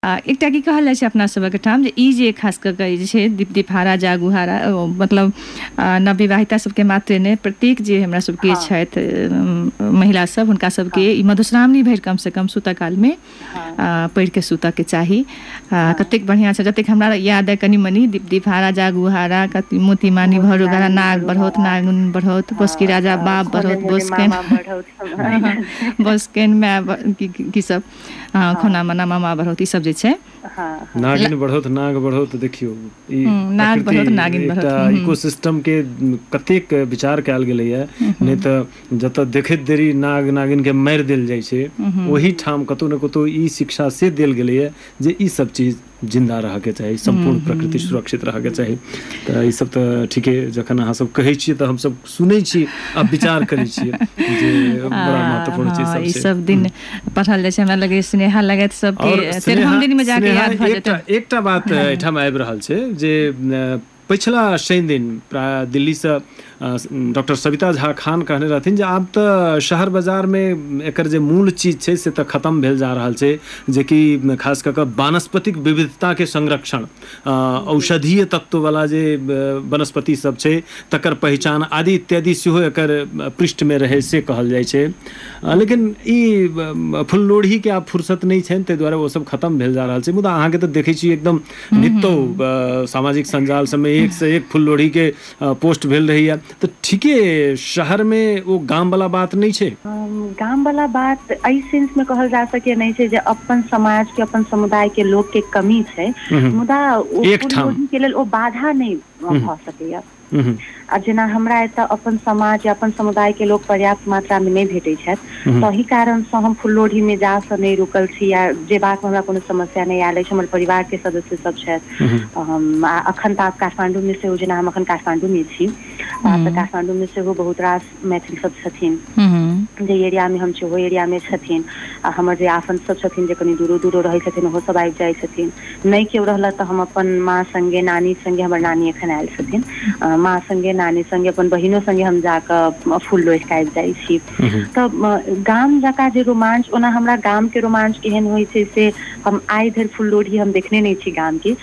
आ एकटा की कहल जाइ छै अपना सभक ठाम जे ई जे खास कऽ कऽ जे छै दीप दिपहारा जागूहारा ओ मतलब आ नवविवाहिता सबके मात्रे नहि प्रत्येक जे हमरा सबके हँ। छथि उम, महिला सब हुनका सबके हँ ई मधुश्रावणी भरि कम से कम सूतऽ काल मे हँ आ पढ़ि कऽ सुतऽ के चाही आ हँ कतेक बढ़ियां सँ जतेक हमरा याद अइ कनि मनि दीप दिपहारा जागूहारा कत मोती मानी मोती भौरो घड़ा मामी नाग भौरो बढ़ौत हरा नागन बढ़ौत बोसकी हँ राजा हँ बाप सोने बढ़ौत मोने बोसकैन मामा बढ़ौत सब हँ हँ हँ बोसकैन माय ब की की सब हँ खुना मना मामा बढ़ौत ई सब जे छै हँ हँ नागिन बढ़ौत नाग बढ़ौत देखियौ ई हूँ, नाग प्रकृति बढ़ौत नागिन बढ़ौत एकटा हूँ, हूँ, इको सिस्ट म के कतेक विचार कयल गेले या नहि तऽ जतऽ देखैत देरी नाग नागिन के मारि देल जाय छै हूँ, हूँ, ओहि ठाम कतौ ने कतौ ई शिक्षा से देल गेले या जे ई सब चीज जिन्दा रहऽके चाही सम्पूर्ण प्रकृति सुरक्षित रहऽके चाही तऽ ई सब तऽ ठीके जखन अहाँ सब कहै छियै तऽ हमसब सुनै छी आ विचार करै छियै जे बड़ा महत्वपूर्ण चीज सब ई छै सब दिन पढ़ल जाइ छै हमरा लगे स्नेहा लगैत और सबके स्नेहा- तेरहम दिन में जाके स्नेहा याद भऽ एकटा जेतै एकटा बात एहिठाम आबि रहल छै जे अ, पछिला शनि दिन प्राय दिल्लीसँ डॉक्टर सविता झा खान कहने रहथिन जे आब तऽ शहर बाजारमे एकर जे मूल चीज छै से तऽ खतम भेल जा रहल छै जेकि खास कऽ कऽ वानस्पतिक विविधताके संरक्षण औषधीय तत्ववला जे वनस्पति सब छै तकर पहिचान आदि इत्यादि सेहो एकर पृष्ठमे रहै से कहल जाइ छै लेकिन ई फुललोढ़ीके आब फुर्सत नहि छनि ताहि दुआरे ओसब खतम भेल जा रहल छै मुदा अहाँके तऽ देखै छी एकदम हूँ नितो हूँ हूँ अ सामाजिक संजाल सबमे एक से एक फुल लोढ़ी के अ पोस्ट भेल रहैया तऽ ठीके शहर मे ओ गाम वला बात नहि छै गाम वला बात एहि सेन्स मे कहल जा सकै नहि छै जे अपन समाज के अपन समुदाय के लोक के कमी छै हूँ हूँ मुदा ओ फूल एकठाम लोढ़ी के लेल ओ बाधा नहि हूँ हूँ भऽ सकैया हूँ हूँ आ जेना हमरा एतऽ अपन समाज या अपन समुदाय के लोक पर्याप्त मात्रा मे नहि भेटैत छथि हूँ तहि कारण सँ हम फुलोढ़ी मे जा सँ नहि रुकल छी या जेबाक मे हमरा कोनो समस्या नहि आयल अछि हमर परिवार के सदस्य सब छथि हूँ हूँ तऽ हम आ अखन तऽ आब काठमाण्डू मे सेहो जेना हम अखन काठमाण्डू मे छी आ तऽ हूँ काठमाण्डू मे सेहो बहुत रास मैथिल सब छथिन जे एरिया मे हम छी ओहो एरिया मे छथिन आ हमर जे आफन्त सब छथिन जे कनि दूरो दूरो रहै छथिन ओहो सब आबि जाइ छथिन नहि केओ रहलथि तऽ हम अपन माँ संगे नानी संगे हमर नानी एखन आयल छथिन माँ संगे नानी संगे अपन बहिनो संगे हम जाक फूल लोढि कऽ आबि जाइ छी तऽ गाम जकाँ जे रोमांच ओना हमरा गाम के रोमांच केहन होइ छै से हम आइ धरि फुललोढ़ी हम देखने नहि छी गाम के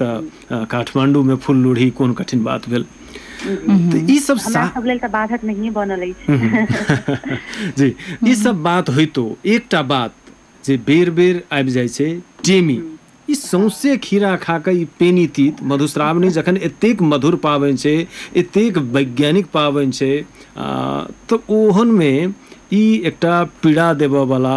तऽ अ, काठमांडू में फूल लोढ़ी कोन कठिन बात भेल तऽ ई सब हमरा सा- सब लेल तऽ बाधक नहिए बनल अछि जी ई सब बात होइतो एकटा बात जे बेर बेर आबि जाइ छै टेमी ई सौंसे खीरा खा कऽ ई पेनी तीत मधुश्रावणी जखन एतेक मधुर पाबनि छै एतेक वैज्ञानिक पाबनि छै आ, तऽ ओहनमे ई एकटा पीड़ा देबऽवला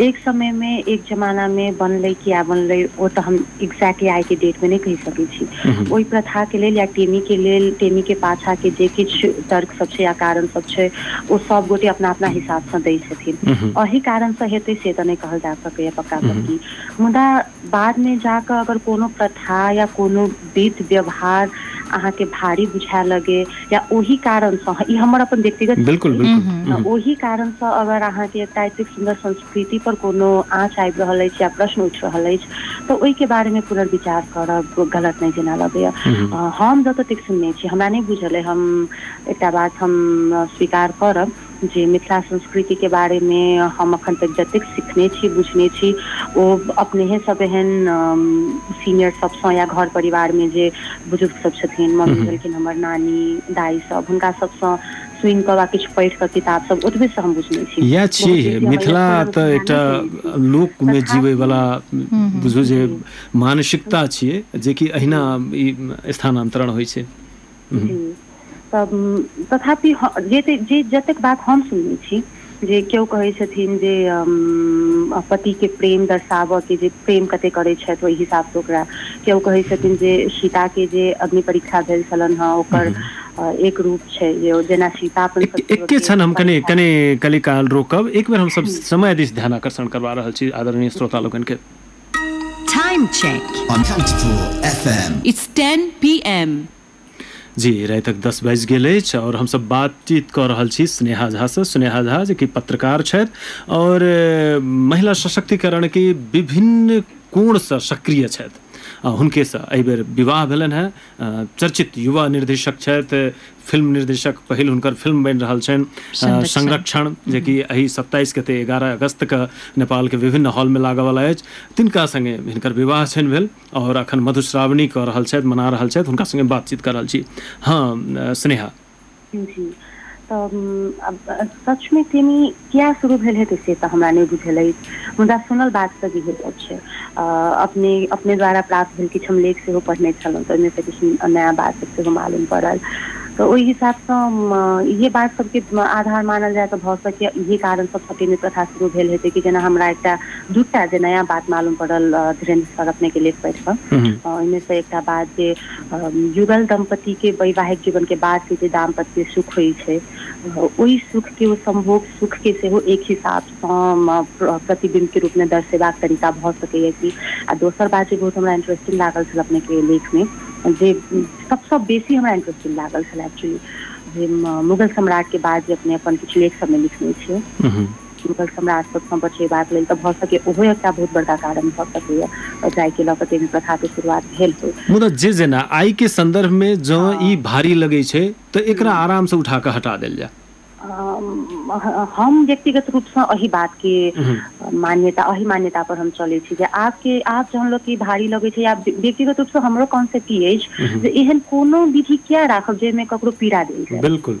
एक समय मे एक जमाना मे बनलै किया बनलै ओ तऽ हम एक्जेक्टली आइ के डेट मे नहि कहि सकै छी ओहि प्रथा के लेल या टेमी के लेल टेमी के पाछा के जे किछु तर्क सब छै या कारण सब छै ओ सब गोटे अपना अपना हिसाब सँ दै छथिन अहि कारण सँ हेतै से तऽ नहि कहल जा सकैए पक्का पक्की मुदा बादमे जा कऽ अगर कोनो प्रथा या कोनो विध व्यवहार अहाँके भारी बुझाय लगे या ओहि कारणसँ ई हमर अपन व्यक्तिगत चीज बिल्कुल छी बिल्कुल तऽ हम्म, ओहि कारणसँ अगर अहाँके एकटा एतेक सुन्दर संस्कृति पर कोनो आँच आबि रहल अछि या प्रश्न उठि रहल अछि तऽ ओहिके बारेमे पुनर्विचार करब गलत नहि जेना लगैया हम्म, अ, हम जतऽ तक सुनने छी हमरा नहि बुझल अइ हम एकटा बात हम अ, स्वीकार करब जे मिथिला संस्कृति के बारे मे हम अखन तक जतेक सिखने छी बुझने छी ओ अपनेहे सब एहन सीनियर सबसँ या घर परिवार मे जे बुजुर्ग सब छथिन हूँ मम्मी हूँ भेलखिन हमर नानी दाइ सब हुनका सबसँ सुनि कऽ वा किछु पढ़ि कऽ किताब सब ओतबे से हम बुझ इएह छियै मिथिला तऽ ध्यान एकटा नहि देने छी लोकमे तथापि जीवैवला हूँ हूँ बुझू जे जी मानसिकता छियै जेकि अहिना जी ई स्थानान्तरण होइ छै जी तऽ तथापि जे जतेक बात हम सुनने छी जे केओ कहैत छथिन जे पति के प्रेम दर्शाबय के जे प्रेम कते करैत छथि ओहि हिसाब सँ ओकरा केओ कहैत छथिन जे सीता के जे अग्नि परीक्षा भेल छलनि हेँ ओकर एक रूप छै जे जेना सीता अपन एक सत्य एके के क्षण हम कनि परीक्षा कनि कनि काल रोकब एक बेर हमसभ समय दिस ध्यान आकर्षण करबा रहल छी आदरणीय श्रोता लोकनि के Time check on Kantipur FM. It's 10 p.m. जी रातिक दस बाजि गेल अछि आओर हमसभ बातचीत कऽ रहल छी स्नेहा झासँ स्नेहा झा जे कि पत्रकार छथि आओर अ, महिला सशक्तिकरणके विभिन्न कोणसँ सक्रिय छथि आ हुनकेसँ एहिबेर विवाह भेलनि हेँ चर्चित युवा निर्देशक छथि फिल्म निर्देशक पहिल हुनकर फिल्म बनि रहल छनि संरक्षण जेकि एहि सत्ताइस गते एगारह अगस्तके नेपालके विभिन्न हॉलमे लागऽवला अछि तिनका सङ्गे हिनकर विवाह छनि भेल आओर अखन मधुश्रावणी कऽ रहल छथि मना रहल छथि हुनका सङ्गे बातचीत कऽ रहल छी हँ स्नेहा जी तऽ सचमे के किया शुरू भेल हेतै से तऽ हमरा नहि बुझल अछि मुदा सुनल बात तऽ इहे सब छै अ अपने अपने द्वारा प्राप्त भेल किछु हम लेख सेहो पढ़ने छलहुँ तऽ ओहिमेसँ किछु नया बात सब सेहो मालूम पड़ल तऽ ओहि हिसाब तऽ इहे बात सबके आधार मानल जाय तऽ भऽ सकैया इहे कारण सब सती प्रथा शुरू भेल हेतै कि जेना हमरा एकटा दूटा जे नया बात मालूम पड़ल धीरेन्द्र सर अपने के लेख पढ़ कऽ हूँ ओहिमे से एकटा बात जे युगल दम्पति के वैवाहिक जीवन के बाद के जे दाम्पत्य सुख होइ छै ओहि सुख के ओ सम्भोग सुख के सेहो एक हिसाब सँ प्रतिबिम्ब के रूप मे दर्शेबाक तरीका भऽ सकैया कि आ दोसर बात जे बहुत हमरा इंटरेस्टिंग लागल छल अपने के लेख मे जे सबसँ बेसी हमरा इंटरेस्टिंग लागल छल एक्चुअली जे मुगल सम्राट के बाद जे अपने अपन किछु लेख सब मे लिखने छियै हुनकर हमरा सबसँ बचेबाक लेल तऽ भऽ सकै ओहो एकटा बहुत बड़का कारण भऽ सकैया जाय के लऽ कऽ ताहिमे प्रथा के शुरुआत भेल होय मुदा जे जेना आइ के संदर्भ मे जँ ई हँ भारी लगै छै तऽ एकरा हूँ आराम सँ उठा कऽ हटा देल जाय हम व्यक्तिगत रूप सँ एहि बात के हूँ मान्यता एहि मान्यता पर हम चलै छी जे आब के आब जहन लोक ई भारी लगै छै आब व्यक्तिगत रूप सँ हमरो कॉन्सेप्ट ई अछि हूँ जे एहन कोनो विधि किया राखब जाहिमे ककरो पीड़ा देल जाय बिल्कुल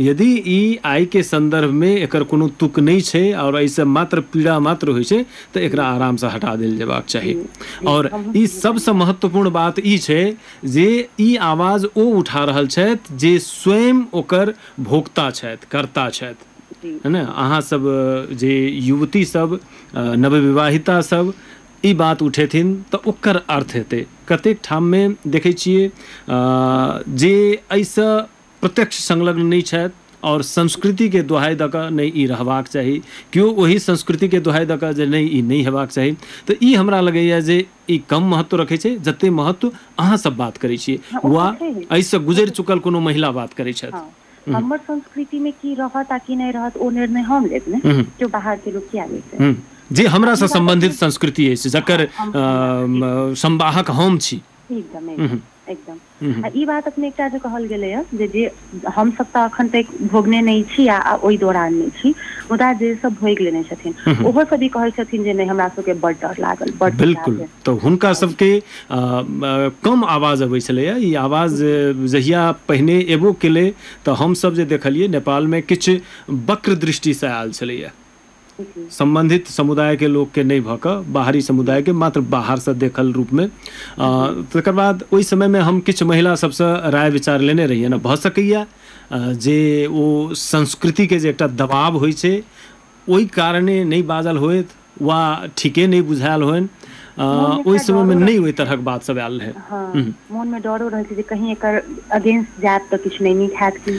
यदि ई आइ के संदर्भ में एकर कोनो तुक नइ छै आओर अइ सँ मात्र पीड़ा मात्र होइ छै त एकरा आराम सँ हटा देल जेबाक चाही। आओर ई सब सँ महत्वपूर्ण बात ई छै जे ई आवाज ओ उठा रहल छैथ जे स्वयं ओकर भोक्ता छैथ, कर्ता छैथ। है ने? अहाँ सब जे युवती सब, नवविवाहिता सब ई बात उठेथिन त ओकर अर्थ हेतै। कतेक ठाम में देखै छियै जे अइ सँ प्रत्यक्ष संलग्न नहि छथि आओर संस्कृतिके दोहाइ दऽ कऽ नहि ई रहबाक चाही केओ ओहि संस्कृतिके दोहाइ दऽ कऽ जे नहि ई नहि हेबाक चाही तऽ ई हमरा लगैए जे ई कम महत्व रखै छै जतेक महत्व अहाँसभ बात करै छियै हँ, ओ वा तऽ छैहे एहिसँ ओ गुजरि तऽ चुकल छैहे कोनो महिला बात करै छथि हँ हूँ हमर संस्कृति मे की रहत आ की नहि रहत ओ निर्णय हम लेब ने हूँ केओ बाहर के लोक किया लेतै हूँ जे आ ई हमरासँ बात सम्बन्धित अपने संस्कृति अछि हँ जकर हम हमरा हँ एकदम संवाहक हम छी एकदम हूँ एकदम एकदम आ ई बात अपने एकटा जे कहल गेलै ह जे जे हमसभ तऽ अखन ते भोगने नहि छी आ ओहि दौरान नहि छी मुदा जे सब भोग लेने छथिन ओहो सब ई कहै छथिन जे नहि हमरा सबके बड डर लागल बड पीड़ा बिलकुल भेल तऽ हुनका हँ सबके कम आवाज अबै छलैए ई आवाज जी जहिया पहिने एबो केलै तऽ हमसभ जे देखलियै नेपालमे किछु वक्र दृष्टिसँ आयल छलैया जी सम्बन्धित समुदाय के लोक के नहि भऽ कऽ बाहरी जी समुदाय के मात्र बाहर सँ देखल रूप मे आ जी तकर बाद ओहि समय मे हम किछु महिला सभ सँ राय विचार लेने रहियैन भऽ सकैया आ जे ओ संस्कृति के जे एकटा दबाव होइ छै ओहि कारणे नहि बाजल होएथ वा ठीके नहि बुझायल होनि आ मोन मे ओहि एकटा समय मे डरो नहि रहै ओहि छै तरहक बात सभ आयल रहै हँ हूँ मोन मे डरो रहै छै जे कही एकर अगेंस्ट जायब तऽ किछु नहि नीक हयत की